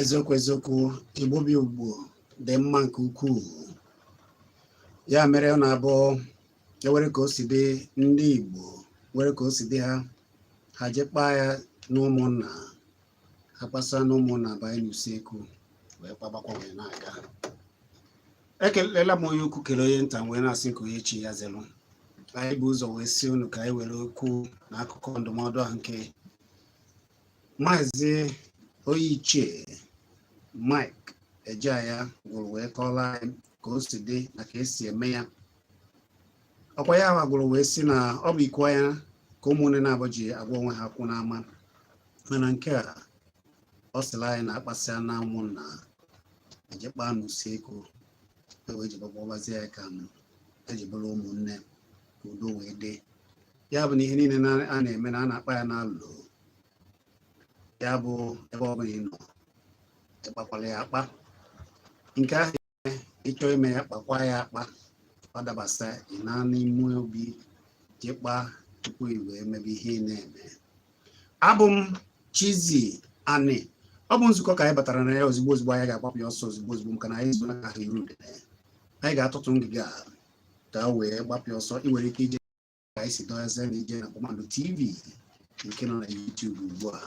eziokwu eziokwu igbo bụ igbo dị mma nke ukwuu ya mere ọ na-abụ ewere ka o si dị ndị igbo were ka o si dị ha ha je kpaa ya n'ụmụnna akpasịa na ụmụnna abanye n'usekwu wee kpagbakwa wee na-aga ekelela m onye ukwu kele onye nta wee na-asị nke onye chi ya zelụ anyị bụ ụzọ wee sị unu ka anyị were okwu na akụkọ ndụmọdụ ahụ nke maazị onye ichie Mike Ejeagha gwụrụ wee kọọla anyị ka o si dị na ka esi eme ya ọkwa ya gwụrụ wee sị na ọ bụ iku anya ka ụmụnne naabọ ji agwa onwe ha okwu n'ama mana nke a ọ sịla anyị na akpasịa na ụmụnna eje kpa n'usekwu ewee jiba kpabazie ya ka eji bụrụ ụmụnne ka udo wee dị ya bụ na ihe niile a na-eme na a na-akpa ya n'alo ya bụ ebe ọ bụla ị nọ ịkpakwala ya akpa nke ahụ ịchọ ime ya kpakwa ya akpa ọ dabasịa ị naa n'ime obi je kpa tupu i wee mebe ihe ị na-eme abụ m Chizzy Ani ọ bụ nzukọ ka anyị batara na ya ozigbo ozigbo anyị ga-agbapụ ya ọsọ ozigbo ozigbo maka na anyị zụrụ aka ha iru anyị ga-atụtụ ngịga ka wee gbapụ ọsọ ị nwere ike ije ka anyị si dọnyezie na ije na Kpakpando TV nke nọ na YouTube ugbu a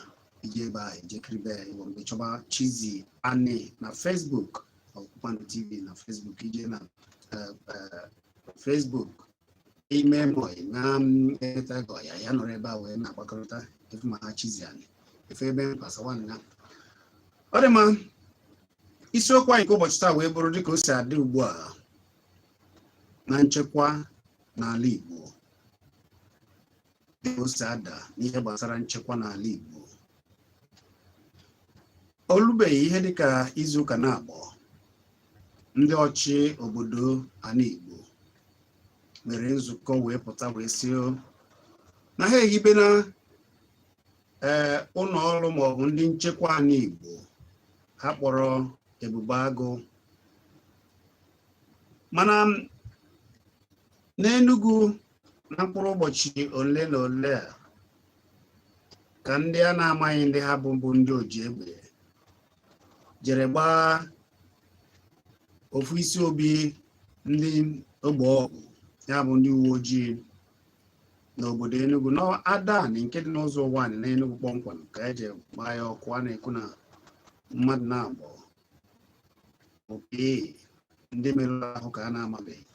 ije ebe a eje kiribe ya ịwụrụ gị chọba Chizzy Ani na Facebook ọ bụ Kpakpando TV na Facebook ije na eh, eh, Facebook ime mọị na mm, eleta gị ọya ya nọrọ ebe a wee na-agbakọrịta efu ma ha Chizzy Ani efe ebe mkpasa nwanne ya ọ dị mma isiokwu anyị nke ụbọchị taa wee bụrụ dịka o si adị ugbu a na nchekwa n'ala Igbo dịka o si ada n'ihe gbasara nchekwa n'ala Igbo o lubeghị ihe dịka izuụka naabọ ndị ọchị obodo ala Igbo mere nzukọ wee pụta wee sị na ha ehibena ee ụlọ ọrụ maọbụ ndị nchekwa ala Igbo ha kpọrọ Ebube Agụ mana n'Enugu na mkpụrụ ụbọchị ole na ole a ka ndị a na-amaghị ndị ha bụ bụ ndị oji egbe jere gbaa ofu isi obi ndị ogbo ọgụ ya bụ ndị uwe ojii n'obodo Enugu n'Adani nke dị n'Uzo Uwani n'Enugu kpọmkwem ka eji gbaa ya ọkụ a na-ekwu na mmadụ n'abụọ oke ndị merụrụ ahụ ka a na-amabeghị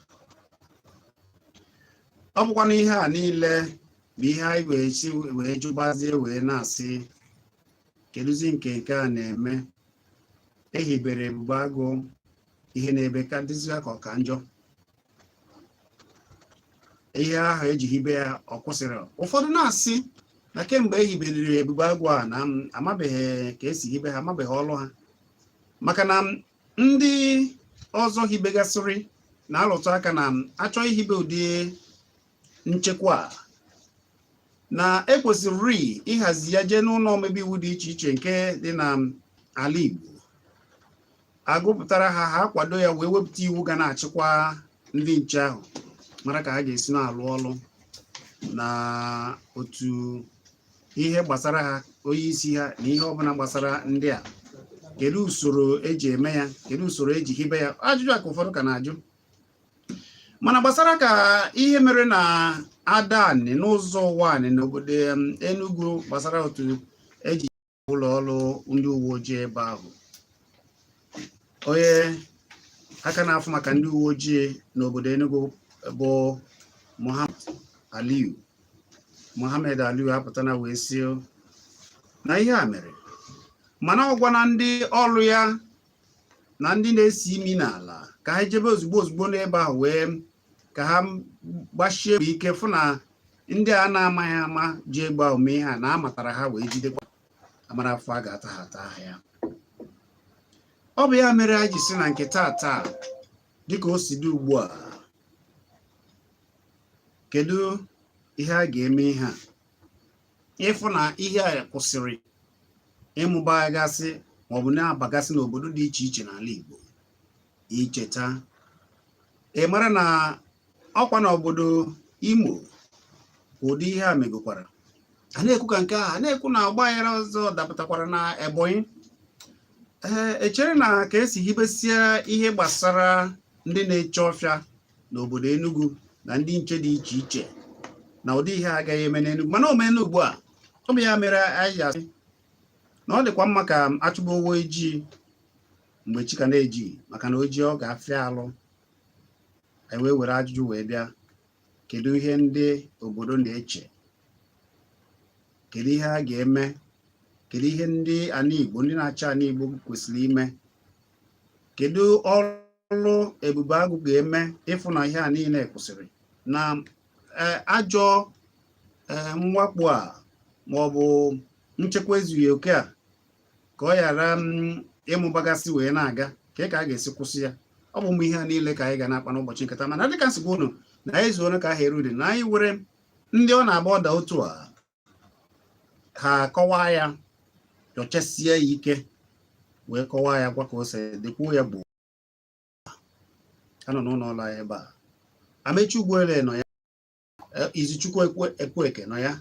ọ bụkwa na ihe a niile bụ ihe anyị wee si wee jụbazie wee na-asị kedụzi nke nke a na-eme ehibere Ebube Agụ ihe na-eme ka dịzịa ka ọ ka njọ ihe ahụ eji hibe ya ọ kwụsịrị ụfọdụ na-asị na kemgbe e hiberiri Ebube Agụ a na amabeghị ka esi hibe ha amabeghị ọlụ ha maka na ndị ọzọ hibegasịrị na-alụtụ aka na a chọọ ihibe ụdị nchekwa a na ekwesịrị ịhazi ya jee n'ụlọ omebe iwu dị iche iche nke dị n'ala Igbo agụpụtara ha ha akwado ya wee wepụta iwu ga na-achịkwa ndị nche ahụ mara ka ha ga-esi na-alụ ọlụ na otu ihe gbasara ha onye isi ha na ihe ọbụla gbasara ndị a kedu usoro eji eme ya kedu usoro eji hibe ya ajụjụ a ka ụfọdụ ka na-ajụ mana gbasara ka ihe mere na Adani n'Uzo Uwani n'obodo Enugu gbasara otu eji ụlọ ọrụ ndị uwe ojii ebe ahụ onye aka na-afụ maka ndị uwe ojii n'obodo Enugu bụ Mohammed Aliyu Mohammed Aliyu apụtana wee sị na ihe a mere mana ọ gwana ndị ọrụ ya na ndị na-esi imi n'ala ka ha jebe ozugbo ozugbo n'ebe ahụ wee ka ha gbasie mbọ ike fụ na ndị a na-amaghị ama ji egbe ahụ mee ihe a na amatara ha wee jidekwa ha mara afụfụ a ga-ata ha ataa ha ya ọ bụ ya mere anyị ji sị na nke taa taa dịka o si dị ugbu a kedu ihe a ga-eme ihe a ịfụ na ihe a kwụsịrị ịmụbagasị maọbụ na-abagasị n'obodo dị iche iche n'ala Igbo i cheta ị mara na ọkwa na obodo Imo ụdị ihe a megokwara a na-ekwu ka nke a a na-ekwu na ọgba aghara ọzọ dapụtakwara na Ebonyi ee echere na ka esi hibesia ihe gbasara ndị na-eche ọfịa n'obodo Enugu na ndị nche dị iche iche na ụdị ihe agaghị eme n'Enugu mana o meena ugbu a ọ bụ ya mere anyị asị na ọ dịkwa mma ka a chụba ewu ojii mgbe chi ka na-eji maka na o jie ọ ga-afịa alụ anyị wee were ajụjụ wee bịa kedu ihe ndị obodo na-eche kedu ihe a ga-eme kedu ihe ndị ana Igbo ndị na-achị ana Igbo kwesịrị ime kedu ọrụ ọrụ ebube agụ ga-eme ịfụ na ihe a niile kwụsịrị na e, ajọ e, mwakpo a ma ọ bụ nchekwa ezughị oke a ka ọ ghara ịmụbagasị wee na-aga ka ka a ga-esi kwụsị ya ọ bụ ụmụ ihe a niile ka anyị ga na-akpa n'ụbọchị nketa mana dịka m si gwa unu na anyị zuoro ka a ha eri udene anyị nwere ndị ọ na-abụ ọ daa otu a ha kọwaa ya nyochasie ya ike wee kọwaa ya gwa ka o si dị kwuo ya gboo ha nọ n'ụlọ ọrụ ebe a amechi ugboele nọ ya e, izuchukwu ekwueke nọ ya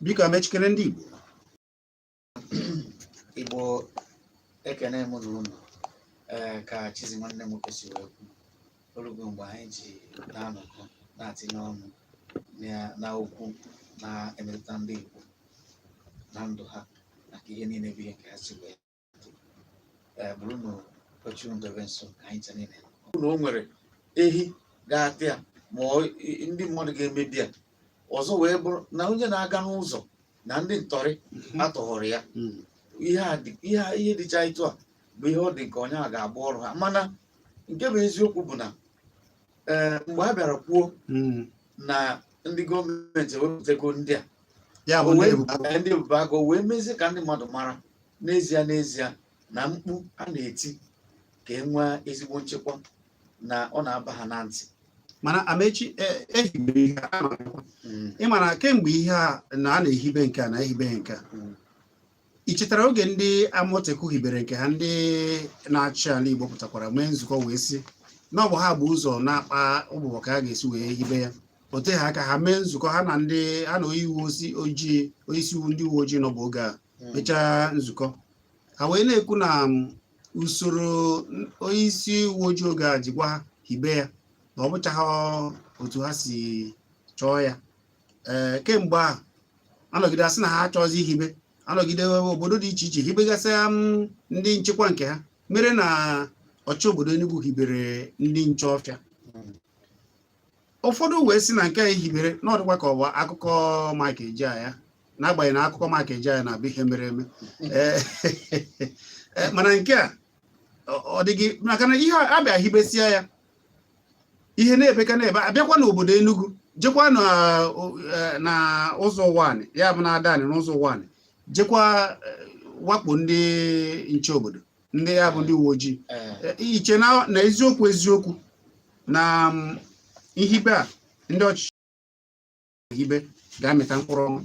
biko amechi kelee ndị igbo igbo ekene m unu ee ka chizi nwanne m nwoke si wee kwu o rugo mgbe anyị ji na-anọkọ na-atinye ọnụ na- na okwu na-emetụta ndị igbo na ndụ ha na ka ihe niile bụ ihe ka ha si wee dị. ee bụrụ na oche unu dobe nso ka anyị ncha niile nọkọ. na o nwere ehi ga-ata ya ma ọ- i- ndị mmadụ ga-emebi ya ọzọ wee bụrụ na onye na-aga n'ụzọ na ndị ntọrị mhm. atọghọrọ ya mhm. ihe dịcha etu a bụ ihe ọ dị m ka ọ nya ga-abụ ọrụ ha mana nke bụ eziokwu bụ na eh, mgbe a bịara kwuo mhm. na ndị gọọmenti ewepụtago ndị a ndị ebube agụ wee mezie ka ndị mmadụ mara n'ezie n'ezie na mkpu a na-eti ka e nwee ezigbo nchekwa na ọ na-aba ha na ntị mana amechi e hibere ihe a mm. ị mara kemgbe ihe a na a na-ehibe nke a na-ehibe nke a mm. ị chetara oge ndị amotekun hibere nke ha ndị na-achị ala igbo pụtakwara mee nzukọ wee sị na ọ bụ ha bu ụzọ na-akpa ụbụbọ ka a ga-esi wee hibe ya o teghị aka ha mee nzukọ ha na ndị ha na onye uwe ojii onyeisi iwu ndị uwe ojii nọbu oge ahụ hmm. mechaa nzukọ ha wee na-ekwu na um, usoro onye isi uwe ojii oge ahụ ji gwa ha hibe ya na ọ bụchaghị otu ha si chọọ ya ee kemgbe ahụ a nọgide a sị na ha achọzi ihibe a nọgide obodo dị iche iche hibegasịa um, ndị nchekwa nke ha mere na ọchị obodo Enugu hibere ndị nche ọfịa ụfọdụ wee sị na nke a ehibere na ọ dịkwa ka ọ bụ akụkọ Mike Ejeagha n'agbanyeghị na akụkọ Mike Ejeagha na-abụ ihe mere eme eh, eh, mana nke a ọ dịghị maka na ihe a bịa hibesịa ya ihe na-ebe ka na-ebe abịakwa n'obodo Enugu jekwa na eh, Ụzọ Ụwanị ya bụ na Adanị n'Ụzọ Ụwanị jekwa wakpo ndị nche obodo ndị ya bụ ndị uwe ojii eh. e, i che na eziokwu eziokwu na mm, ihibe a ndị ọchịchị ehibe ga-amịta mkpụrụ ọma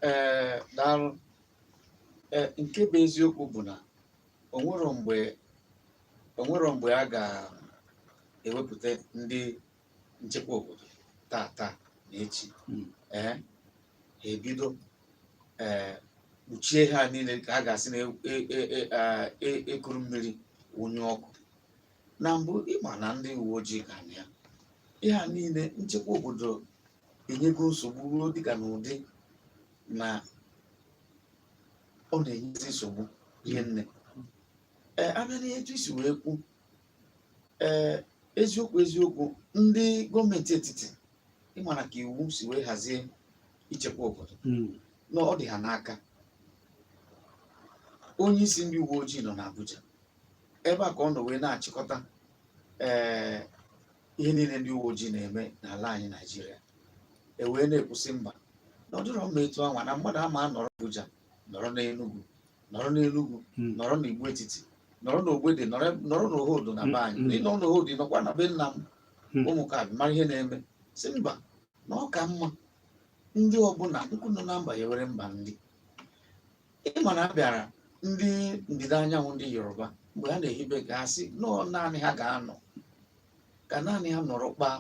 ee eh, daalụ eh, nke bụ eziokwu bụ na o nwerọ mgbe a ga-ewepụta ndị nchekwa obodo taa taa na echi hmm. ee ha ebido ee kpuchie ihe a niile ka a ga-asị na e kuru e, e, e, mmiri wụnye ọkụ na mbụ ịma na ndị uwe ojii ka na ya ihe a niile nchekwa obodo enyego nsogbu ruo dịka n'ụdị na ọ na-enyezi nsogbu hie nne ee a bịa n'ihe etu i si wee kwu ee eziokwu eziokwu ndị gọọmenti etiti ịmara ka iwu si wee hazie ichekwa obodo Mm. na ọ dị ha n'aka onye isi ndị uwe ojii nọ n'Abuja ebe a ka ọ nọ wee na-achịkọta ee ihe niile ndị uwe ojii na-eme n'ala anyị Naịjirịa e wee na-ekwu sị mba na ọ dịrọ mma etu anwa na mmadụ ama anọrọ Abuja nọrọ n'Enugu nọrọ n'Enugwu Mm. nọrọ n'Igbo Etiti nọrọ n'Ogbede nọrọ nọrọ n'Ohodo na be anyị Mm. ịnọ n'Ohodo nọkwa na be nna m Mm. ụmụ ka abịa mara ihe na-eme sị mba na ọ ka mma ndị ọbụla nkụ nọ na mba ghewere mba nri ịma na a bịara ndị ndịda anyanwụ ndị Yoruba mgbe ha na-ehibe ka ha si nọọ naanị ha ga-anọ ka naanị ha nọrọ kpaa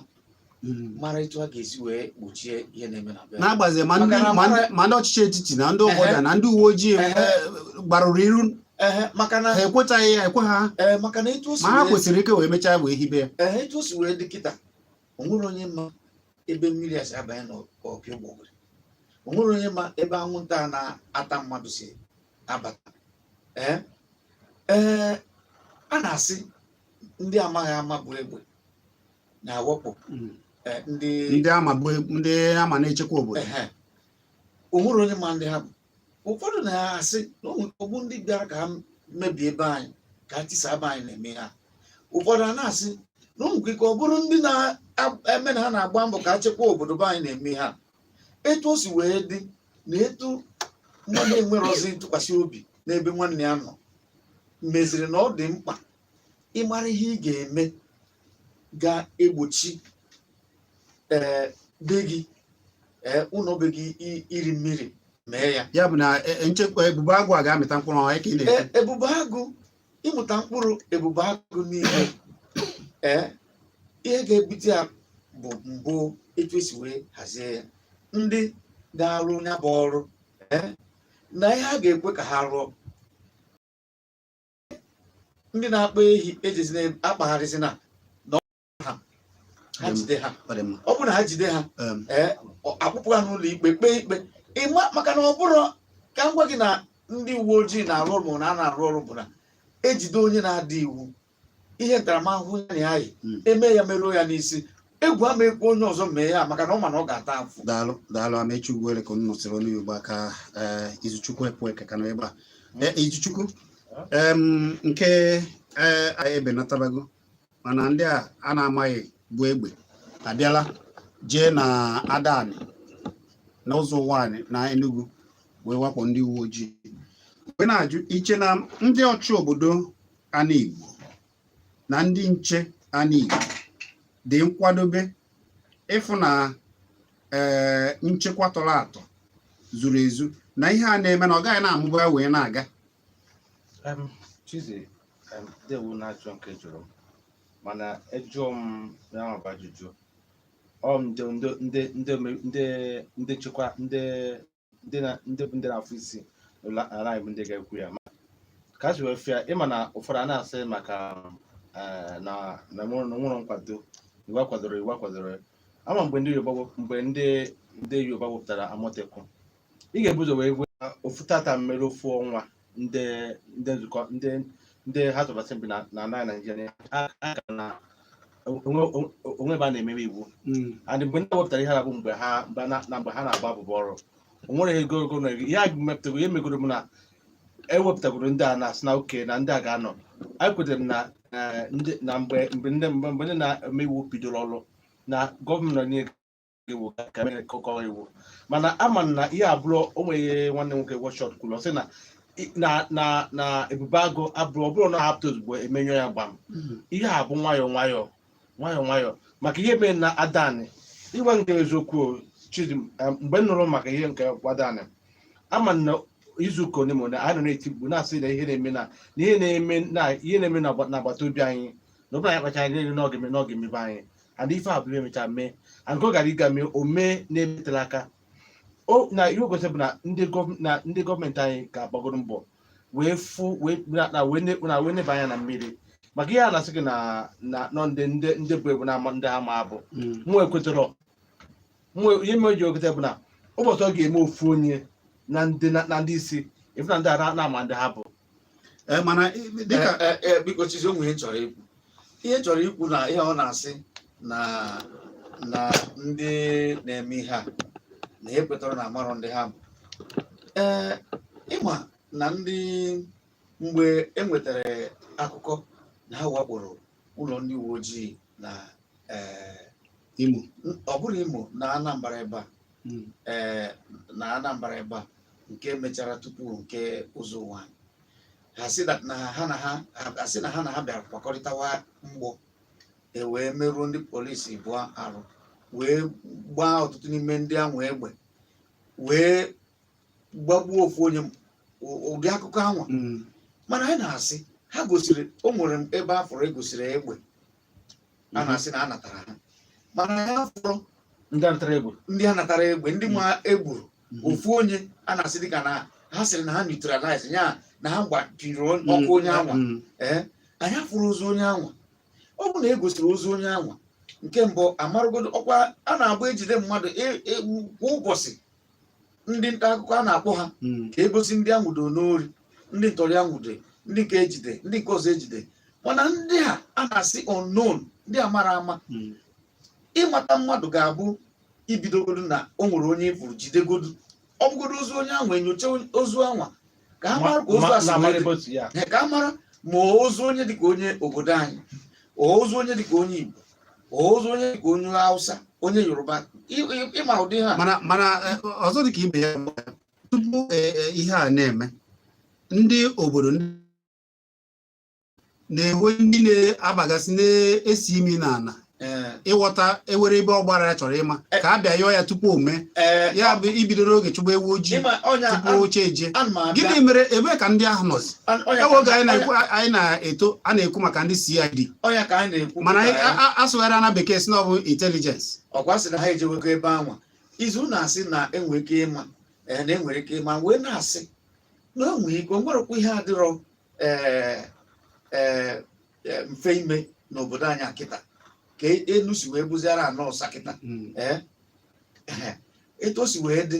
mara etu a ga-esi wee gbochie ihe na-eme na be ha. n'agbazi ma ndị Maka na ma ndị- mara- ma ndị ọchịchị etiti na ndị ụfọdụ Ehe. na ndị uwe ojii Ehe. eh, gbarụrụ iru Ehe, maka na ha ekwetaghị ya ekwe ha ee, maka na etu o si ma ha wee- kwụsịrị ike wee mechaa wee hibe ya ehe, etu o si wee dị kịta o nwere onye ma ebe mmiri a si abanye n'opi ụgbọgụrụ o nwere onye ma ebe anwụnta a na-ata mmadụ si abata ee ee a na-asị ndị amaghị ama bu egbe na-awakpo hmm. eh, ndị ndị ama bụ e, ndị ama na-echekwa obodo o nwere onye ma ndị ha bụ ụfọdụ na-asị na ọ bụ ndị bịara ka ha mebie ebe anyị ka ha tisaa be anyị na-eme ha ụfọdụ a na-asị na o nwere ike ọ bụrụ ndị na-eme na ha na-agba mbọ ka ha chekwa obodo be anyị na-eme ha etu o si wee dị na etu nwanne enwerozi ntụkwasị obi n'ebe nwanne ya nọ meziri na ọ dị mkpa ịmara ihe ị ga-eme ga-egbochi ee be gị ee ụlọ be gị i- iri mmiri mee ya ya bụ na e- e- nchekwa ebube agụ a ga-amịta mkpụrụ ọhụrụ ka ị na-ekwu E- ebube agụ ịmụta mkpụrụ ebube agụ niile ee ihe ga-ebute ya bụ mbụ etu e si wee hazie ya ndị ga-arụ ya bụ ọrụ ee na ihe a ga-ekwe ka ha rụọ ndị na-akpa ehi ejezina akpagharịzina ha ha jide ha ọ dị mma ọ bụrụ na ha jide ha Em, ee ọ- akpụpụ ha n'ụlọ ikpe kpee ikpe ịma maka na ọ bụrụ ka m gwa gị na ndị uwe ojii na-arụ ọrụ ma na a na-arụ ọrụ bụ na e jide onye na-ada iwu ihe ntaramahụhụ ya na ya yi Mm. e mee ya meruo ya n'isi egwu ama ekwe onye ọzọ mee ya maka na ọ ma na ọ ga-ata afụfụ daalụ daalụ Amechi Ugwuele ka unu nụsịrị olu ya ugbu a ka eh, Izuchukwu epụ eke ka nọ ebe a Eh, Izuchukwu em, nke eh, anyị ebenatabago mana ndị a a na-amaghị bu egbe abịala jee na Adani na Uzo Uwani na Enugu wee wakpo ndị uwe ojii wee na-ajụ i che na ndị ọchị obodo ana Igbo na ndị nche ana Igbo dị nkwadobe ịfụ na ee eh, nchekwa tọrọ atọ zuru ezu na ihe a na-eme na ọ gaghị na-amụba wee na-aga Em, Chidi, em, ndeewo n'ajụjụ nke ị jụrụ m mana ejụọ m ya bụ ajụjụ ọ m ndị ndị ndị ndị ome- ndị ndị nchekwa ndị ndị na ndị bụ ndị na-afụ isi n'ụlọ ala anyị bụ ndị ga-ekwu ya ma ka a si wee fụ ya ị ma na ụfọdụ a na-asị maka eh, na na enwero na enwero nkwado iwu akwadoro iwu akwadoro ama mgbe ndị Yoruba wep- mgbe ndị ndị Yoruba wepụtara Amotekun ị ga-ebu ụzọ wee gwa ofu tata mmere ofu ọnwa ndị ndị nzukọ ndị ndị House of Assembly na na ala Naijiria ha ha ka na onwe onwe ebe a na-emebe iwu Mm. and mgbe ndị wepụtara ihe a bụ mgbe ha mgbe na na mgbe ha na-agba abụba ọrụ o nwere ego ego na ego ihe a mepụtago ihe megoro m na ewepụtagoro ndị a na-asị na oke na ndị a ga-anọ anyị kwetere m na eh, ndị na mgbe mgbe ndị mgbe mgbe ndị na-eme iwu bidoro ọrụ na gọvanọ niile iwu ka mere nkụkọ iwu mana ama m na ihe abụrọ o nwee ihe nwanne nwoke wọchọt kwuru ọ sị na i- na na na ebube agụ abụrọ ọ bụrụ na ha pụta ozugbo e mee ya gbam ihe a bụ nwayọọ nwayọọ nwayọọ nwayọọ maka ihe mere na Adani ịgwa nke eziokwu o, Chidi m, eh, mgbe m nụrụ maka ihe nke Adani ama m na izu ụka ole ma ole anyị nọ na-eti mkpu na-asị na ihe na-eme na na ihe na-eme na ihe na-eme na agba- n'agbata obi anyị na ọ bụrụ na anyị akpacharọ anya na ọ ga-eme na ọ ga-emebe anyị and ife a bụrụ emecha mee and ka ọ gara ịga mee o mee na-emetela aka o na ihe o gosiri bụ na ndị gọọm- na ndị gọọmenti anyị ga-agbagoro mbọ wee fụ wee na- na wee ne- na wee neba anya na mmiri maka ihe a na-asị gị na na nọ ndị ndị ndị bu egbe na-ama ndị ha ma abụ Mm. mụ ekwetarọ mụ ihe m ejirọ kweta bụ na ụbọchị ọ ga-eme ofu onye na ndị na na ndị isi a fụ na ndị a a na-ama ndị ha bụ Eh, mana i- dịka Eh, eh, eh, biko Chizzy o nwe ihe m chọrọ ikwu ihe m chọrọ ikwu na ihe ọ na-asị na na ndị na-eme ihe a na ha ekwetarọ na amarọ ndị ha bụ ee ịma na ndị mgbe e nwetara akụkọ na ha wakporo ụlọ ndị uwe ojii na ee, Imo ọ bụrọ Imo na Anambra ebe a hmm. eh, na Anambra ebe a nke mechara tupu nke Ụzọ Ụwanị a sị na ha na ha asị na ha na ha bịara kwakọrịtawa mgbọ e wee merụọ ndị polisi abụọ arụ wee gbaa ọtụtụ n'ime ndị anwa egbe wee gbagbuo ofu onye ụdị akụkọ anwa hmm. mana anyị na-asị ha gosiri o nwere ebe a fụrụ egosiri egbe a mhm. na-asị na a natara ha mana anyị afụrọ ndị a natara egburu ndị a natara egbe ndị anwa egburu mhm. ofu onye a na-asị dịka na ha sịrị na ha neutralize ya na ha gbapiri ọkụ mhm. onye anwa ee eh, anyị afụrọ ozu onye anwa ọ bụ na e gosiri ozu onye anwa nke mbụ amarụgodo ọkwa a na-abụ ejide mmadụ e, e, kwa ụbọchị ndị nta akụkọ a na-akpọ ha hmm. ka egosi ndị anwụdo n'ori ndị ntọrị anwụdo ndị nke ejide ndị nke ọzọ ejide mana ndị a a na-asị unknown ndị a mara ama hmm. ịmata mmadụ ga-abụ ibidogodu na o nwere onye ị fụrụ jidegodu ọ bụgodo ozu onye anwa enyocha ozu anwa ka a mara ka ozu a si wee dị. Ee, ka a mara ma ozu onye dịka onye obodo anyị ozu onye dịka onye Igbo ozu onye dịka onye Hausa onye Yoruba ị- ị- ịma ụdị ihe a mana mana eh, ọzọ dị ka ibe ya bụ, tupu eh, eh, ihe a na-eme ndị obodo ndị na-enwe ndị na-abagasị na-esi imi n'ala Eh. ịghọta ewere ebe ọ gbara ya chọrọ ịma eh. ka a bịa yọọ ya tupu o mee eh. ya bụ ibido n'oge chụba ewu ojii tupu chi ejie gịnị mere ebee ka ndị ahụ nọzi ewe oge anyị na-eto a na-ekwu maka ndị CID mana asụgharị na bekee sị na ọ bụ intelligence ọkwa sị na ha ejewego ebe anwa izu na-asị na enwere ike ịma na enwere ike ịma wee na-asị na enwere ike o nwerekwa ihe adịrọ ee ee mfe ime n'obodo anyị akịta ka enu si wee bụziara ana ọsa kịta hmm. ee etu o si wee dị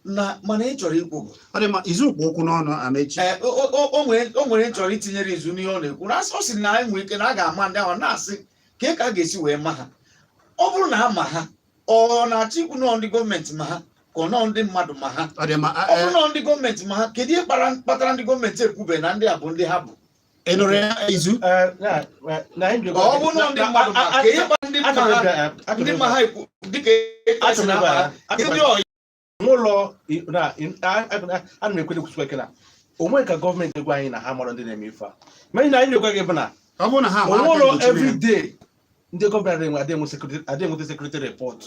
na mana ihe m chọrọ ikwu bụ ọ dị ka izu kpụ okwu n'ọnụ amechi o nwere ihe ị chọrọ itinyere izu n'ihe ọ na-ekwu na ọ sị na e nwere ike na a ga-ama ndị ahụ na-asị kee ka a ga-esi wee ma ha ọ bụrụ na a ma ha ọ na-achọ ikwu na ọ ndị gọọmenti ma ha ka ọ nọ ndị mmadụ ma ha ọ dị mma ọ bụrụ na ọ ndị gọọmenti ma ha kedu ihe kpatara ndị gọọmenti ekwube na ndị a bụ ndị ha bụ ị nụrụ ya izu Eh, na- na- na anyị jikwa- ọ bụrụ na ọ ndị na- mmadụ ma a- a- kee ihe kpatara ndị mma achọrọ ha ịbịa- ndị achọrọ ma ha ekwu dịka ịbịa- esi na achọrọ ịbịa- ha achọrọ ndị ịbịa- ọyị n'ụlọ a na-ekwere kwusikwa ike na o nwerọ ka gọọmenti gwa anyị na ha amarọ ndị na-eme ife a ma anyị na anyị na-agwa gị bụ na ọ bụrụ na ha ma aka onwụlọ mgbochi mere. everyday ndị gọvanọ adịghị enwe- adịghị enwe security- adịghị enweta sekuriti repọt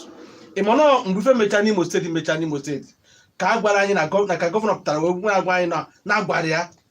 ị ma na mgbe ife mechaa n'imo steeti mechaa n'imo steeti ka a gwara anyị na gọ- na ka gọvanọ pụtara wee gwa agwa anyị na na-agwara ya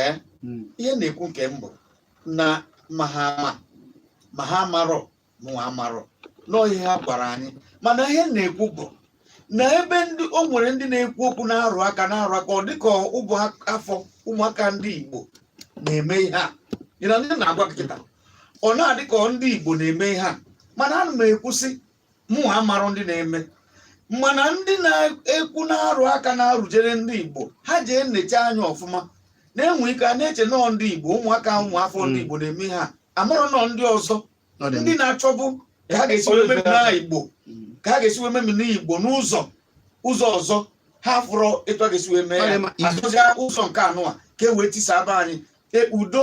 ee hmm. ihe m na-ekwu nke m bụ na ma ha ama ma ha amarọ mụnwa amarọ na ọ ihe ha gwara anyị mana ihe m na-ekwu bụ na ebe ndị o nwere ndị na-ekwu okwu na-arụ aka na-arụ aka ọ dịka ụmụ afọ ụmụaka ndị Igbo na-eme ihe a ịna ndị na-agwa kịta ọ na-adị ka ndị Igbo na-eme ihe a mana ana m ekwu sị mụnwa amarọ ndị na-eme mana ndị na-ekwu na-arụ aka na-arụjere ndị Igbo ha jee neecha anya ọfụma na e nwere ike a na-eche na ọ ndị Igbo ụmụaka ụmụafọ ndị hmm. Igbo na-eme ha amarọ na ọ ndị ọzọ ndị na-achọbu ka ha ga-esi wee memina Igbo hmm. ka ha ga-esi wee memina Igbo n'ụzọ ụzọ ọzọ ha afụrọ etu a ga-esi wee mee ya azụzia ụzọ nke anụa ka e wee tisaa be anyị e, udo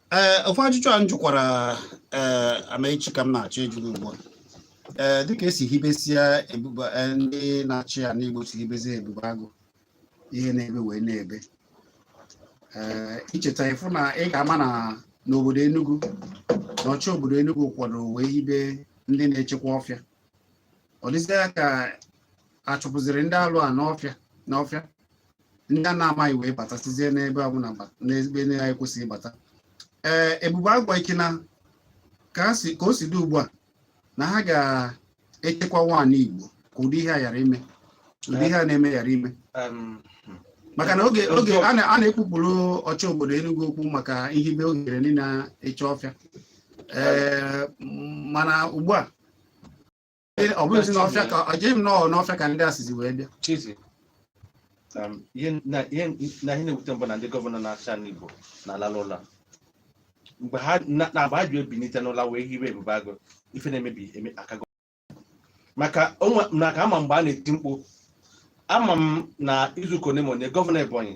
ee eh, ofu ajụjụ a m jụkwara ee eh, amaechi ka m na-achọ ịjụ gị ugbu a ee eh, dịka esi hibesia ebube ndị na-achị ana igbo si hibezie ebube agụ ihe na-ebe wee na-ebe ee i cheta ị fụ na ị ga-ama na n'obodo Enugu na ọchị obodo Enugu kwado wee hibe ndị na-echekwa ọfịa ọ dịzịa ka achụpụziri ndị alụ a n'ọfịa n'ọfịa ndị a na-amaghị wee batasịzie n'ebe ọbụla n'ebe ha na-ekwesịghị ịbata ee ebube agụ a i che na ka o si dị ugbu a na ha ga-echekwanwu ana igbo ka ụdị ihe a ghara ime ụdị ihe a na-eme ghara ime maka na oge oge a na-ekwuburu ọchị obodo Enugu okwu maka ihibe ohere ndị na-eche ọfịa ee mana ugbu a ọ bụghịzi n'ọfịa ka echeghị m na ọ n'ọfịa ka ndị a sizi wee bịa Chizi, um, ihe na ihe na ihe na-ewute m bụ na ndị gọvanọ na-achị ana Igbo na-alalụ ụla mgbe ha na na mgbe ha ji ebinite n'ụla wee hibe ebube agụ ife na-emebi eme akago maka onwe na ka ama m mgbe a na-eti mkpu ama m na izuụka one ma one gọvanọ Ebonyi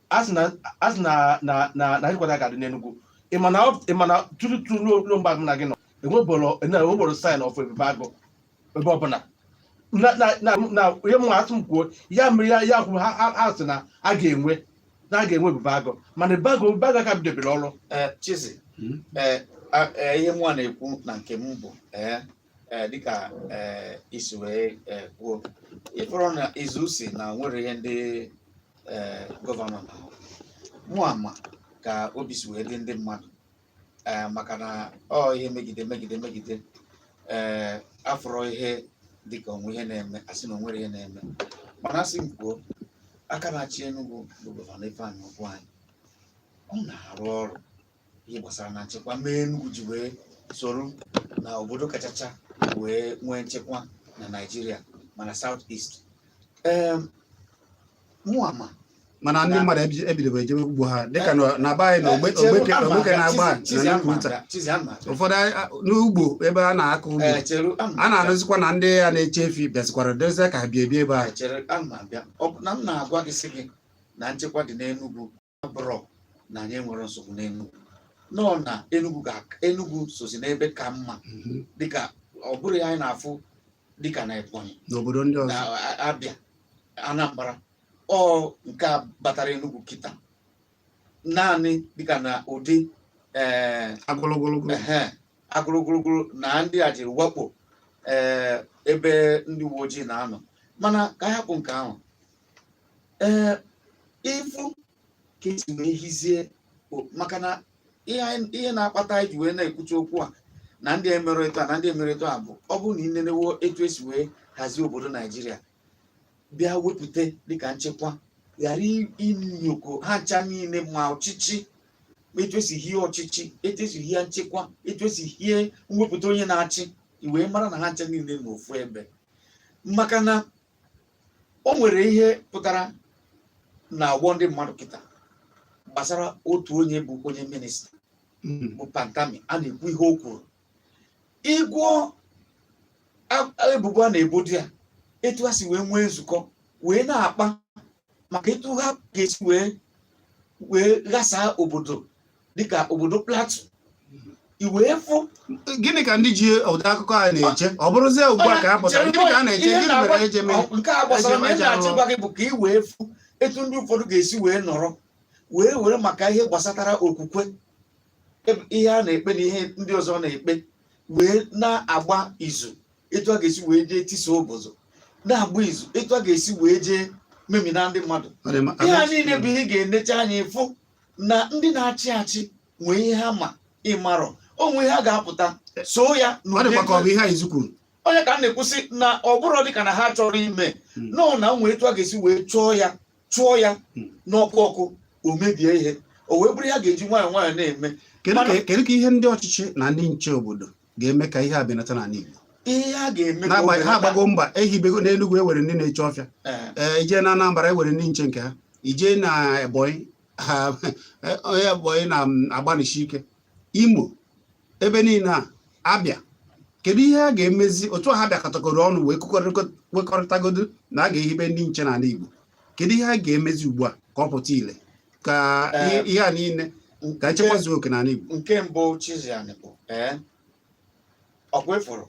asị na asị na na na na headquarter ga-adị n'Enugu ị ma na ọ- ị ma na tutu tutu ruo ruo mgbe a mụ na gị nọ enweboro enweboro sign of ebube agụ ebe ọbụla na na na na ihe mụ asị m kwuo ya mere ya ya kwuru ha ha ha sị na a ga-enwe na a ga-enwe ebube agụ mana ebube agụ ebube agụ aka bidobere ọrụ Eh, Chizzy, Hmm? eh, a- eh, ihe mụ a na-ekwu na nke m bụ eh, ee dịka ee isi wee ee kwuo ị fụrọ na izu si na onwere ihe ndị ee gọvanọ na mụ ama ka obi si wee dị ndị mmadụ ee maka na ọ ihe megide megide megide ee afụrọ ihe dịka onwe ihe na-eme asị na onwere ihe na-eme mana asị m kwuo aka na-achị Enugu bụ gọvanọ Ifeanyi Ugwuanyị ọ na-arụ ọrụ ihe gbasara na nchekwa mee Enugu ji wee soro na obodo kachacha wee nwee nchekwa na Naịjirịa ma na South East mụ ama mana ndị mmadụ ebidobe ejebe ugbo ha dịka na be anyị na Ogbeke na Agbani ụfọdụ n'ugbo ebe a na-akọ ugbo a na-afụzikwa na ndị a na-eche efi bịazikwara dozie ka ha bie ebi ebe a na m na-agwa gị sị gị na nchekwa dị n'Enugwu abụrọ na anyị enwerọ nsogbu n'Enugwu nọ na Enugwu ga Enugwu sozi n'ebe ka mma mhm. dịka ọ bụrụ ihe anyị na-afụ dịka na Ebonyi n'obodo ndị ọzọ Abịa Anambra ọ nke a batara Enugwu kịta naanị dịka na ụdị eh, agụlụgụlụgụ na ndị a jiri wakpo eh, ebe ndị uwe ojii na-anọ mana ka a hapụ nke ahụ ee ịfụ ka esi wee hizie maka na ihe na-akpata anyị ji wee na-ekwute okwu a na ndị Emirate na ndị Emirate a bụ ọ bụrụ na ị nenewo etu esi wee hazie obodo Naịjirịa bịa wepụta dịka nchekwa ghara ị nyokọọ ha ncha niile ma ọchịchị etu esi hie ọchịchị etu esi hie nchekwa etu esi hie mwepụta onye na-achị ị wee mara na ha ncha niile n'ofu ebe maka na o nwere ihe pụtara n'ọgbọ ndị mmadụ kịta gbasara otu onye bụ onye minista hmm. bụ Pantami a na-ekwu ihe o kwuru ị gụọ ebubo a na-ebodo ya etu ha si wee nwee nzukọ wee na-akpa maka etu ha ga-esi wee wee ghasaa obodo dịka obodo Plateau ị wee fụ gịnị ka ndị ji ụdị akụkọ a na-eche ọ bụrụzie ugbu a ka ha pụtara gịnị ka a na-eche gịnị mere e ji mee nke a gbasara na ndị achị gwa gị bụ ka ị wee fụ etu ndị ụfọdụ ga-esi wee nọrọ wee were maka ihe gbasatara okwukwe ihe a na-ekpe na ihe ndị ọzọ na-ekpe wee na-agba izu etu a ga-esi wee jee tisa obodo na-agba izu etu a ga-esi wee jee memina ndị mmadụ ihe a niile bụ ihe a ga-enecha anya ịfụ na ndị na-achị achị nwee ihe ha ma ị marọ o nwe ihe ha ga-apụta so ya ọ n'ụdị dịkwa ka ọ bụ ihe Izu kwuru ọ nya ka m na-ekwu sị na ọ bụrụ dịka na ha chọrọ ime Mm. nọ na o nwere etu a ga-esi wee chụọ ya chụọ ya Mm. n'ọkụ ọkụ o mebie ihe o wee bụrụ ihe a ga-eji nwayọọ nwayọọ na-eme kedu Mana- ka kedu ka ihe ndị ọchịchị na ndị nche obodo ga-eme ka ihe a benata n'ala Igbo ihe a ga-eme ka o n'agbanyeghị ha belata- agbago mbọ ehibego n'Enugu e nwere ndị na-eche ọfịa Eh, ee i jee na Anambra e nwere ndị nche nke ha i jee na Ebonyi ha onye Ebonyi na-agbanisi ike Imo ebe niile na Abịa kedu ihe a ga-emezi etu a ha bịakọtakọrọ ọnụ wee kwekọrịkọ- kwekọrịtagodo na a ga-ehibe ndị nche n'ala Igbo kedu ihe a ga-emezi ugbu a ka ọ pụta ile ka ihe a niile ka nchekwa zuo oke n'ala Igbo nke mbụ Chiziani bụ ee ọkwa ị fụrụ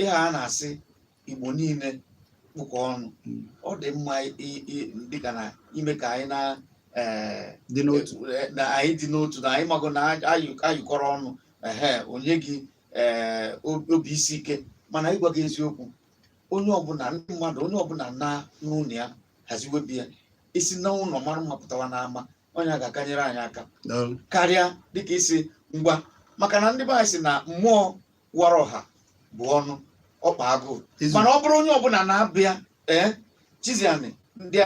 ihe a na-asị Igbo niile kpụkọ ọnụ hmm. ọ dị mma dịka na ime ka anyị na anyị dị n'otu na anyị mago na ayụkọrọ ọnụ ehe o nye gị obi isi ike mana ịgwa gị eziokwu onye ọbụla ndị mmadụ onye ọbụla naa n'ụlọ ya haziwe be ya e si n'ụlọ mara mma pụtawa n'ama ọ nya ga-aka enyere anyị aka karịa dịka ị sị ngwa maka na ndị be anyị sị na mmụọ wara ọha bu ọnụ ọkpa agụụ mana ọ bụrụ onye ọbụla na-abịa ee Chiziani ngị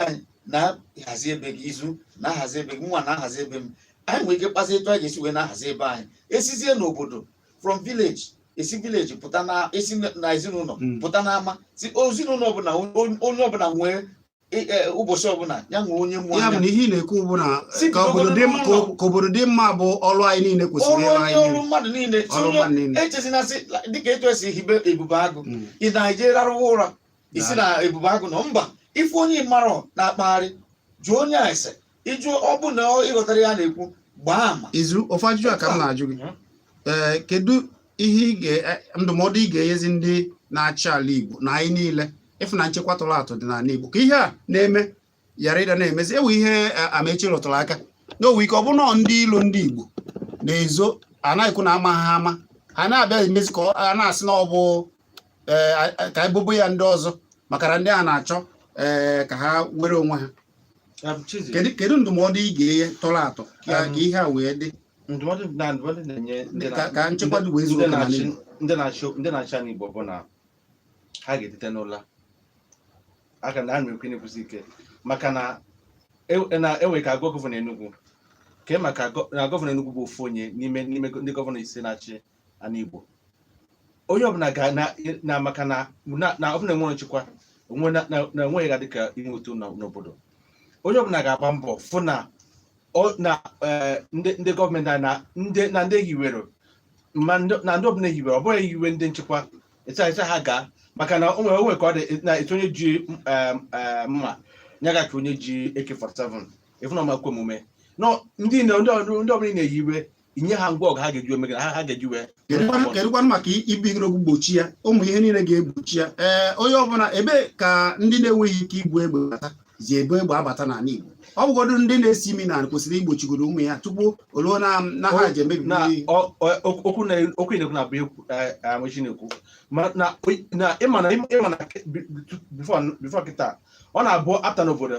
na-ahazi be gị Izu na-ahazi be gị m nwa na-ahazi be m anyị nwere ike kpazie etu anyị ga-esi wee na-ahazi be anyị e sizie n'obodo from village e si village pụta na e si na ezinụlọ hmm. pụta n'ama sị ezinụlọ ọbụla onye ọbụla nwee e, e, ụbọchị ọbụla ya nwee onye mụ ya bụ na ihe ị na-ekwu bụ na Sị ka obodo dị bidogodo n'ụlọ. ka obodo dị mma bụ ọrụ anyị niile kwesịrị ọrụ ịrụ onye anyị ọrụ niile. mmadụ niile Ọrụ tinye- mmadụ niile. echezina sị dịka etu e si hibe Ebube Agụ Mm. ị na-eje rarụwa ụra ị sị na Ebube Agụ nọ mba ị fụ onye ị marọ na-akpagharị jụọ onye a ese ịjụ ọ bụ na ọ- ị ghọtara ihe a na-ekwu gbaa ama Izu ofu ajụjụ a ka m na-ajụ gị Mm. ee kedu ihe ị ga- eh, ndụmọdụ ị ga-enyezi ndị na-achị ala Igbo na anyị niile ịfụ na nchekwa tọrọ atọ dị n'ala Igbo ka ihe a na-eme ghara ịda na-emezi e nwe ihe eh, Amaechi rụtụrụ aka na o nwe ike ọ bụrụ na ọ ndị ilo ndị Igbo na-ezo a na-ekwu na amaha ama ha na-abịa emezi ka ọ- a na-asị na ọ bụ eh, a- a- ka e bobo ya ndị ọzọ maka na ndị a na-achọ eh, ka ha were onwe ha Um, Chizzy, kedu kedu ndụmọdụ ị ga-enye tọrọ atọ ka Um, ka ihe a wee dị ndụmọdụ na ndụmọdụ na-enye ndị ka na- ka nchekwa dị wee zuo ndị oke n'ala na-achị Igbo? ndị na-achị ndị na-achị ana Igbo bụ na ha ga-etete n'ụla aka na a na-ekwu na-ekwusi ike maka na e- na enwere ka gọvanọ Enugu kee maka gọ- na gọvanọ Enugu bụ ofu onye n'ime n'ime gọ- ndị gọvanọ ise na-achị ana Igbo onye ọbụla ga na na maka na na- na ọbụrụ na enwerọ nchekwa onwe na na- na enweghị ga dịka inwe uto na- n'obodo onye ọbụla ga-agba mbọ fụ na ọ- na eh, ndị ndị gọọmenti anyị na ndị na ndị hiwere ma ndị- na ndị ọbụla hiwere ọ bụghị hiwe ndị nchekwa ịsị ịsị ha gaa maka na o nwere o nwere ka ọ dị na asị onye ji eh, eh, mma ya gachie onye ji AK47 ị fụ na ọ ma-ekwe omume nọ ndị na ndị ọrụ ndị ọbụla ị na-ehiwe inye ha ngwa ọgụ ha ga-eji eme ha ga-eji wee kedụkwanụ maka ibigoro ogwu gbochi ya ụmụ ihe niile ga-egbochi ya ee onye ọbụla ebe ka ndị na-enweghị ike ibu egbe bata ji ebu egbe abata n'ala Igbo ọ bụgodu ndị na-esi imi n'ana kwesịrị igbochigoro ụmụ ihe a tupu o luo na ha ji emebi okwu na-ekwu na bụ amachi na-ekwu na ịma na ịma na bifọ kịta ọ na-abụ apụta n'obodo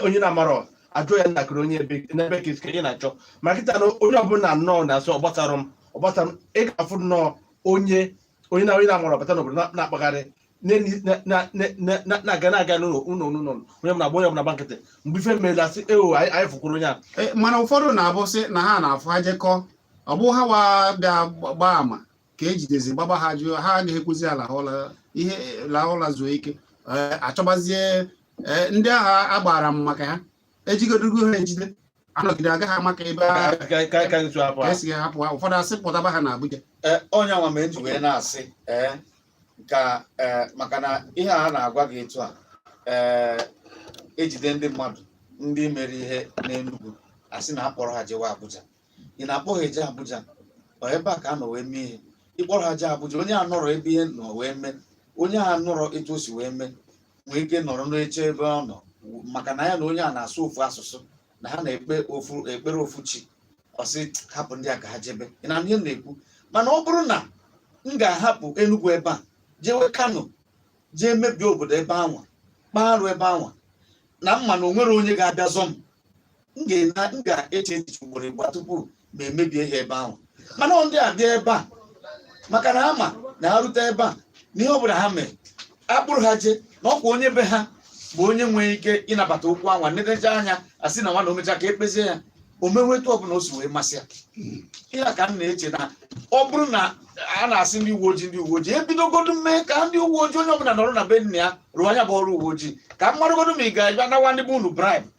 onye na-amarọ ajụọ ya ntakịrị onye ebe n'ebee ka i si na-achọ ma kịta na onye ọbụla nnọọ na-asị ọ gbasarọ m ọ gbasarọ m ị ga-afụ nnọọ onye onye na onye na-amarọ bata n'obodo na- na-akpagharị na-eni- na- na- na- na- na- na-aga na-aga n'ụlọ ụlọ n'ụlọ onye ọbụla gba onye ọbụla gba nkịtị mgbe ife meela sị ewo anyị anyị fụkwuru onye a Eh, mana ụfọdụ na-abụ sị na ha na-afụ ha jekọọ ọ bụ ha wa bịa gba- gbaa ama ka ejidezi gbagba ha jụọ ha agaghị ekwuzi ala ụla ihe la ụla zuo ike eh, achọbazie eh, ndị ahụ gbara ama maka ha ejidegodu ha ejide anọgide agaghị amakwa ebe esi hapụ ha ụfọdụ asị kpọtaba ha na Abuja eh, ọ nya nwa m ji wee na-asị ka maka na ihe a na-agwa gị etu a ejide ndị mmadụ ndị mere ihe n'Enugu asị na akpọrọ ha jewe Abuja ị na-akpọ ha eje Abuja ọ ebe a ka a nọ wee mee ihe ịkpọrọ ha jee Abuja onye a nọrọ ebe ihe nọ wee mee onye a nọrọ etu o si wee mee nwee ike nọrọ n'oche ebe ọ nọ maka na ya na onye a na-asụ ofu asụsụ na ha na-ekpe ofu ekpere ofu chi ọ sị hapụ ndị a ka ha jebe ị nụ ihe m na-ekwu mana ọ bụrụ na m ga-ahapụ Enugu ebe a jewe Kano jee mebie obodo ebe anwa kpaa arụ ebe anwa na m ma na onwerọ onye ga-abịa zọ m m ga-ena- m ga-eche echiche ugboro ịbụa tupu mụ emebie ihe ebe ahụ mana ọ ndị a bịa ebe a maka na ha ma na ha rute ebe a na ihe ọbụla ha mere akpụrụ ha je na ọkwa onye be ha bụ onye nwere ike ịnabata okwu anwa nedecha anya asị na nwa na omecha ka ekpezie ya o mewe etu ọbụla o si wee masị ya ihe a ka m na-eche na ọ bụrụ na a na-asị ndị uwe ojii ndị uwe ojii ebidogodu mee ka ndị uwe ojii onye ọbụla nọrọ na be nna ya rụọ nya bụ ọrụ uwe ojii ka m maragodu ma ị ga-abịa nawa ndị be unu bribe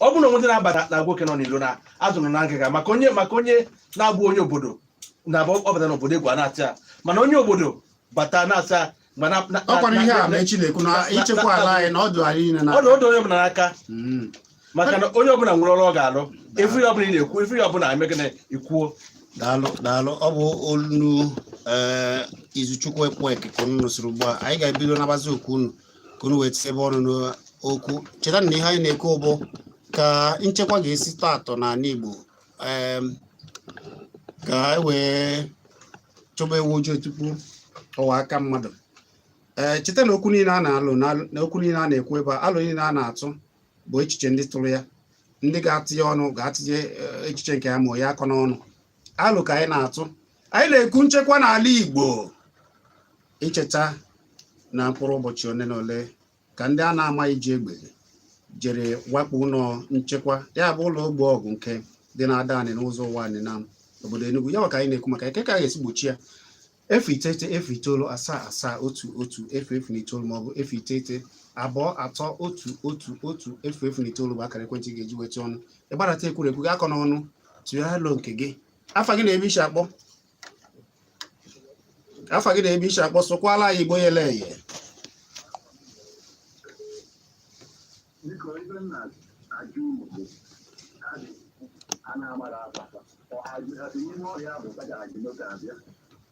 ọ bụrụ na o nwee ndị na-abata na oke nọ n'iro na azụ nọ na ngịga maka onye maka onye na-abụghị onye obodo na-abụ ọ bata n'obodo egwu ana-atụ ya mana onye obodo bata na-atị ya ma na na- ọ kwara na- ihe a na- Amechi na-ekwu na na- na- ichekwa ala anyị na ọ dụ anyị niile na ọ dị ọ dụ onye ọbụla n'aka Mm. maka na onye ọbụla nwere ọrụ ọ ga-alụ ị fụ ihe ọbụla ị na-ekwu ị fụ ihe ọbụla eme gị na i kwuo daalụ daalụ ọ bụ olu ee Izuchukwu Ekwueke ka unu nụsịrị ugbu a anyị ga-ebido nabazi okwu unu ka unu wee tinyebe ọnụ n'okwu cheta na ihe anyị na-ekwu bụ ka nchekwa ga-esi tọọ atọ n'ala Igbo em, ka e wee chọba ewu ojii tupu ọwa aka mmadụ ee cheta na okwu niile a na-alụ na- na okwu niile a na-ekwu ebe a alo niile a na-atụ bụ echiche ndị tụrụ ya ndị ga-atinye ọnụ ga-atinye eh, echiche nke ya ma ya akọ n'ọnụ alo ka anyị na-atụ anyị na-ekwu nchekwa n'ala Igbo i cheta na mkpụrụ ụbọchị ole na ole ka ndị a na-amaghị ji egbe jere wakpo ụlọ nchekwa ya bụ ụlọ ogbo ọgụ nke dị na Adanị n'Ụzọ Ụwanị na obodo Enugu ya ka anyị na-ekwu maka ya kee ka a ga-esi gbochie ya efu iteghete efu itoolu asaa asaa otu otu efu efu na itoolu maọbụ efu iteghete abụọ atọ otu otu otu efu efu na itoolu bụ akara ekwentị ị ga-eji weta ọnụ ịgbarata ekwurekwu gị akọ n'ọnụ tụgharịa alo nke gị afa gị na ebe i si akpọ afa gị na ebe i si akpọ sụkwaala anyị Igbo yele eye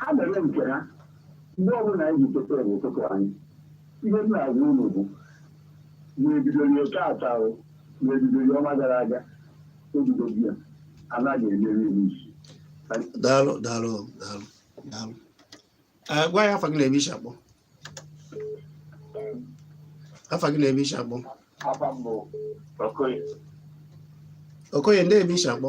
ha mere nke ha mgbe ọbụla anyị ji teta n'ụtụtụ anyị ihe m na-agwa unu bụ na e bidoro taata na e bidoro ọnwa gara aga daalụ daalụ daalụ daalụ Eh, gwa anyị afa gị na ebe i si akpọ afa gị na ebe i si akpọ Okoye ndee ebe i si akpọ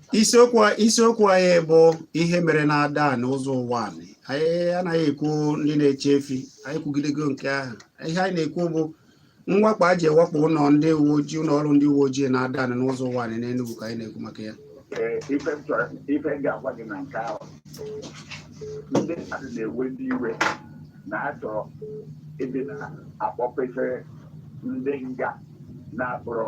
isiokwu isiokwu anyị bụ ihe mere na Adanị Ụzọ Ụwanị anaghị ekwu ndị na-eche efi anyị kwugidego nke ahụ ihe anyị na-ekwu bụ mwakpo e ji wakpo ụlọ ndị uwe ojii ụlọ ọrụ ndị uwe ojii na Adanị n'Ụzọ Ụwanị n'Enugu ka anyị na-ekwu maka ya ife m ga-agwa gị na nke ahụ ndị mmadụ na-ewezi iwe na-achọ ịdị na-akpọpesịrị ndị nga na-akpọrọ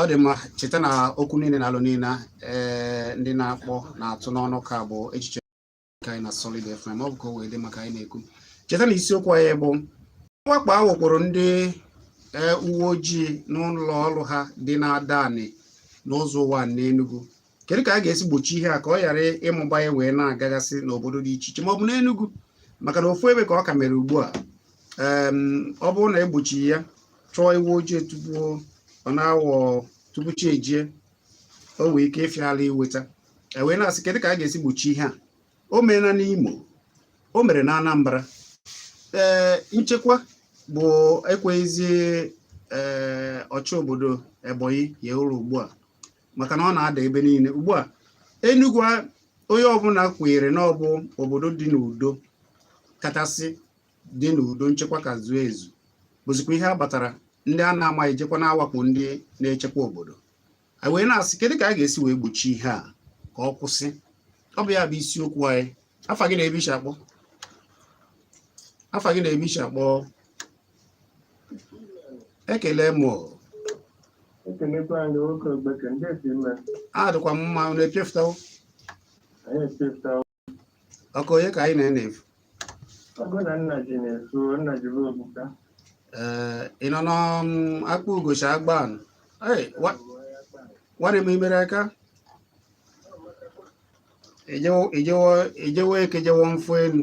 ọ dị mma cheta na okwu niile na alo niile ee ndị na-akpọ na-atụ n'ọnụ ka bụ echiche ka anyị na Solid FM ọ bụ ka o wee dị maka anyị na-ekwu cheta na isiokwu anyị bụ mwakpo a wakporo ndị e, uwe ojii n'ụlọ ọrụ ha dị n'Adani n'Ụzọ Ụwanị n'Enugu kedu ka a ga-esi gbochi ihe a ka ọ ghara ịmụba ya wee na-agagasị n'obodo dị iche iche ma ọ bụ n'Enugu maka na ofu ebe ka ọ ka mere ugbu a ọ bụrụ na egbochi ya chọọ ewu ojii tupu ọ na-awọ tupu chi ejie o nwee ike ịfịa arụ iweta ewee na-asị kedu ka a ga-esi gbochi ihe a o meela n'Imo o mere na Anambra ee nchekwa bụ ekweghịzi ee ọchị obodo Ebonyi hie ụra ugbu a maka na ọ na-ada ebe niile ugbu a Enugu onye ọbụla kwenyere na ọ bụ obodo dị n'udo kachasị dị n'udo nchekwa ka zuo ezu bụzikwa ihe a batara ndị a na-amaghị jekwa na-awakpo ndị na-echekwa obodo a wee na-asị kedu ka a ga-esi wee gbochie ihe a ka ọ kwụsị ọ bụ ya bụ isiokwu anyị afa gị na ebe i si akpọ afa gị na ebe i si akpọ ekele m adịkwa m mma unu epịafụtawo ọkụ onye ka anyị na-enefu ee ị nọ n'akpa ugochi Agbani nwanne m imere aka ijewo eke jewo mfụ elu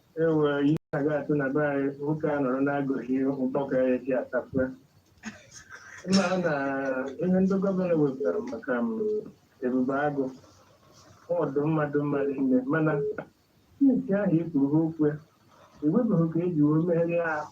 ewe ihe aga atụ na be anyị nwoke a nọrọ na-agụghị mkpọka ya ji atapụa mma na ihe ndị gọvanọ wepụtara maka Ebube Agụ ọdụ mmadụ mmadụ nne mana since ahụ e kwuru ha okwu ya enwebeghị ka eji wee megharịa ahụ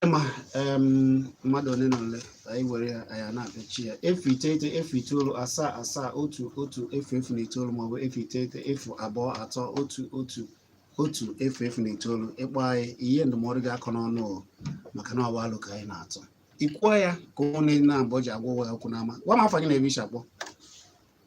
ma mmadụ ole na ole anyị were ya anyị na-apịachi ya efu iteghete efu itoolu asaa asaa otu otu efu efu na itoolu maọbụ efu iteghete efu abụọ atọ otu otu otu efu efu na itoolu ị kpọọ anyị ihe ndụmọdụ gị akọ n'ọnụ maka na ọ bụ alo ka anyị na-atụ i kwuo ya ka ụmụnna abụọ ji agwa onwe ha okwu n'ama gwa m afa gị na ebe i si akpọ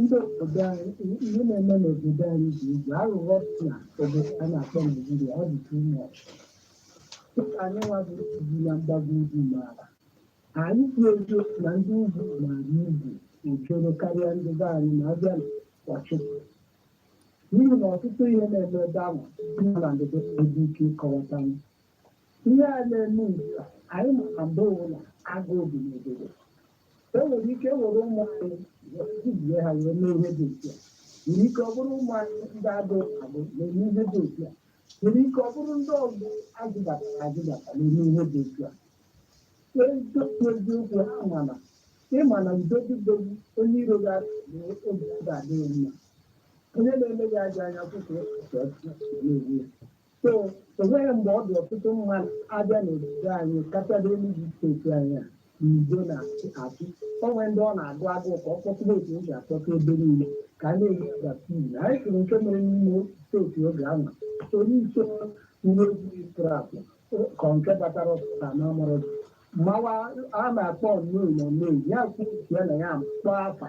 ndị obodo anyị ihe na-eme n'obodo anyị dị egwu aghụghọ dị na obodo a na-akpọ naijiria ọ dị too much dịka anyị nwa bi ebi na mgbago ugwu maara anyị kwuo eziokwu na ndị ugwu maara egwu ojoro karịa ndị be anyị ma a bịa na ọchịchị n'ihi na ọtụtụ ihe na-eme ebe ahụ nọ na ndịdo ebe ike ịkọwata m ihe a na-eme ugbu a anyị ma na mgbe ụwa agụụ dị n'obodo e nwere ike e were ụmụ anyị wee dubie ha wee mee ihe dị otu a nwere ike ọ bụrụ ụmụ anyị ndị agụụ agụ na-eme ihe dị otu a nwere ike ọ bụrụ ndị ọzọ azụbatara azụbata na-eme ihe dị otu a eziokwu eziokwu ha mana ịma na ndodidogbu onye iro ya na obi ya ga-adị ya mma onye na-eme gị aja anya kwụkwụ ọchịchị na-ewu ya so o nwere mgbe ọ dị ọtụtụ mmadụ abịa n'obodo anyị kachasị Enugu steeti anyị a n'udo na-achị o nwee ndị ọ na-agụ agụụ ka ọ kpọtụrụ otu o ji akpọta ebe niile ka a na-enye vaccine anyị sịrị nke mere n'ime steeti oge ahụ onye isi uwe ojii trap ka nke batara ọsụta na amụrụ mawa a na-akpọ nnoi na nnoi ya kwuo ya na ya kpọọ afa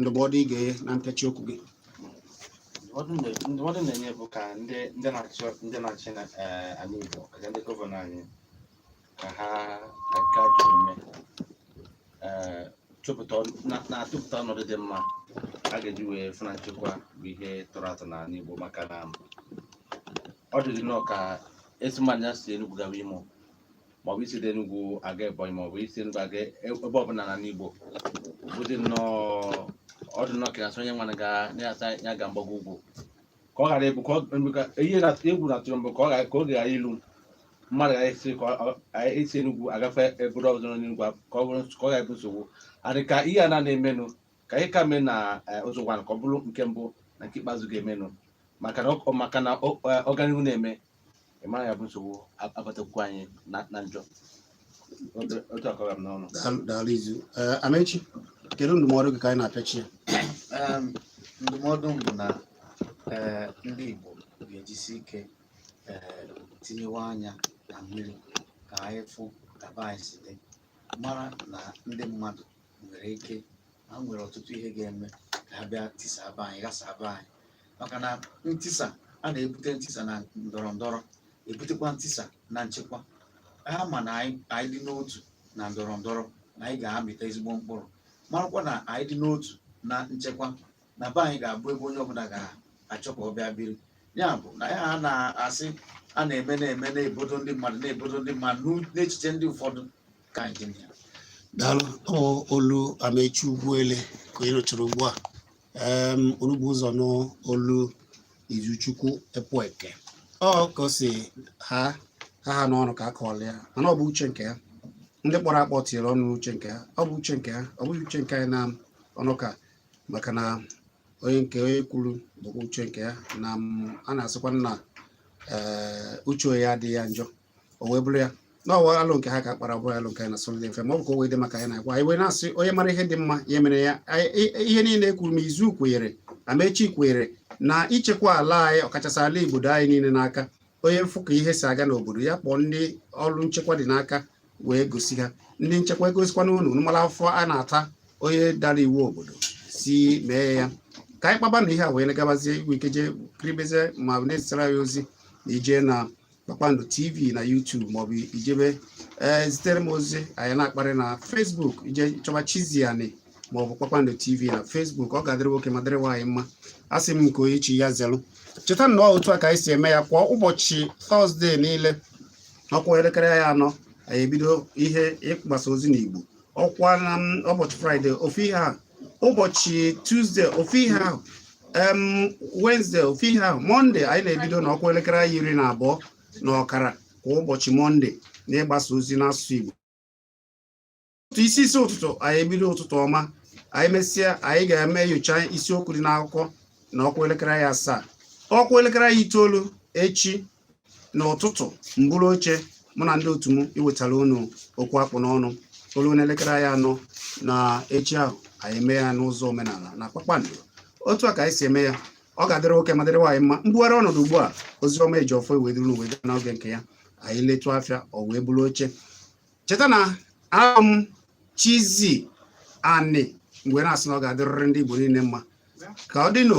ndụmọdụ ị ga-enye na ntachi okwu gị ndụmọdụ na- ndụmọdụ m na-enye bụ ka ndị ndị na-achị ndị na-achị na eh, ala Igbo ka ndị gọvanọ anyị ka ha ka nke a dị ume eh, chụpụta ọnụ- na- na-atụpụta ọnọdụ dị mma a ga-eji wee fụ na nchekwa bụ ihe tọrọ atọ n'ala Igbo maka na ọ dịrị nnọọ ka a sị mmadụ ya si Enugu gawa Imo maọbụ isi dị Enugu aga Ebonyi maọbụ i si Enugu aga e, ebe ọbụla n'ala Igbo ọ dị nnọọ ọ dị nnọọ ka a sị onye nwana ga na-asa ya ga mgbago ugwu ka ọ ghara ịbụ ka ihe egwu na-atụ mbụ ka ọ ghara ka oge ghara ilu mmadụ ga-esi ka e si Enugu agafe obodo ọzọ n'Enugu ka ọ bụrụ ka ọ ghara ịbụ nsogbu adị ka ihe a na-emenụ ka ihe ka mee na e, Uzo-Uwani ka ọ bụrụ nke mbụ na nke ikpeazụ ga-emenụ maka na ọganihu na-eme ị mara ya bụ nsogbu a- abatakwu anyị na na njọ Otu- otu a ka ọ ra m n'ọnụ Daalụ- daalụ Izu Ee, Amechi kedu ndụmọdụ gị ka anyị na-apịachi ya Em, ndụmọdụ m bụ na eh, ndị Igbo ga-ejisi ike eh, tinyewe anya na mmiri ka anyị fụ ka be anyị si dị mara na ndị mmadụ nwere ike ha nwere ọtụtụ ihe ga-eme ka ha bịa tisaa be anyị ghasaa be anyị maka na ntisa a na-ebute ntisa na ndọrọ ndọrọ ebutekwa ntisa na nchekwa ha ma na anyị anyị dị n'otu na ndọrọ ndọrọ na anyị ga-amịta ezigbo mkpụrụ marakwa na anyị dị n'otu na nchekwa na be anyị ga-abụ ebe onye ọbụla ga-achọ ka ọ bịa biri ya bụ na ya ha na-asị a na-eme na-eme n'obodo ndị mmadụ n'obodo ndị mmadụ n'u- n'echiche ndị ụfọdụ ka anyị dị na ya daalụ ọ olu Amechi Ugwuele ka ị nụchara ugbu a unu bu ụzọ nụ olu Izuchukwu Ekwueke ọ ka o si ha ha ha n'ọnụ ka a kọọla ya mana ọ bụ uche nke ha ndị kpọrọ akpọ tinyere ọnụ n'uche nke ha ọ bụ uche nke ha ọ bụghị uche nke anyị na ọnụ ka maka na onye nke onye kwuru bụkwa uche nke ya na a na-asịkwa na uche onye adịghị ya njọ o wee bụrụ ya na ọwa alụ nke ha ka kpara bụrụ alụ nke anyị na Sunday FM ọ bụ ka o wee dị maka anyị na-agwa anyị wee na-asị onye mara ihe dị mma ya mere ya ihe niile e kwuru m izu kwenyere amechi kwenyere na ichekwa ala anyị ọkachasị ala Igbo anyị niile n'aka onye fụ ka ihe si aga n'obodo ya kpọọ ndị ọrụ nchekwa dị n'aka wee gosi ha ndị nchekwa egosikwana unu mara afụfụ a na-ata onye dara iwu obodo si mee ya ka anyị kpaba na ihe a wee gabazie i nwe ike jee kiribezie ma na-ezitara anyị ozi na ije na Kpakpando TV na YouTube maọbụ i jebe ee eh, zitere m ozi anyị na-akparị na Facebook i jee chọba Chizzy Ani maọbụ Kpakpando TV na Facebook ọ ga-adịrị nwoke ma dịrị nwaanyị mma asị m nke onye chi ya zelụ cheta na otu a ka anyị si eme ya kwa ụbọchị tọzdee niile ọ kụọ elekere anya anọ anyị ebido ihe ịgbasa ozi n'Igbo ọkwa na ụbọchị fraịde ofu ihe ahụ ụbọchị tuzde ofu ihe ahụ wenezde ofu ihe ahụ mọnde anyị na-ebido na ọ kụọ elekere anya iri na abụọ na ọkara kwa ụbọchị mọnde na ịgbasa ozi n'asụsụ Igbo isi isi ụtụtụ anyị ebido ụtụtụ ọma anyị mesịa anyị ga-eme nyocha isiokwu dị n'akụkọ na ọ kụọ elekere anya asaa ọ kụọ elekere anya itoolu echi n'ụtụtụ m buru oche mụ na ndị otu m iwetara unu okwu a kpụ n'ọnụ o lue n'elekere anya anọ na echi ahụ anyị eme ya n'ụzọ omenala na Kpakpando otu a ka anyị si eme ya ọ ga-adịrị nwoke ma dịrị nwaanyị mma m bugharịa ọnọdụ ugbu a Ozioma Ejiọfọ ewee duru unu wee gaa n'oge nke ya anyị letụ afịa o wee buru oche cheta na abụ m Chizzy Ani m wee na-asị na ọ ga-adịrịrị ndị Igbo niile mma ka ọ dị n'o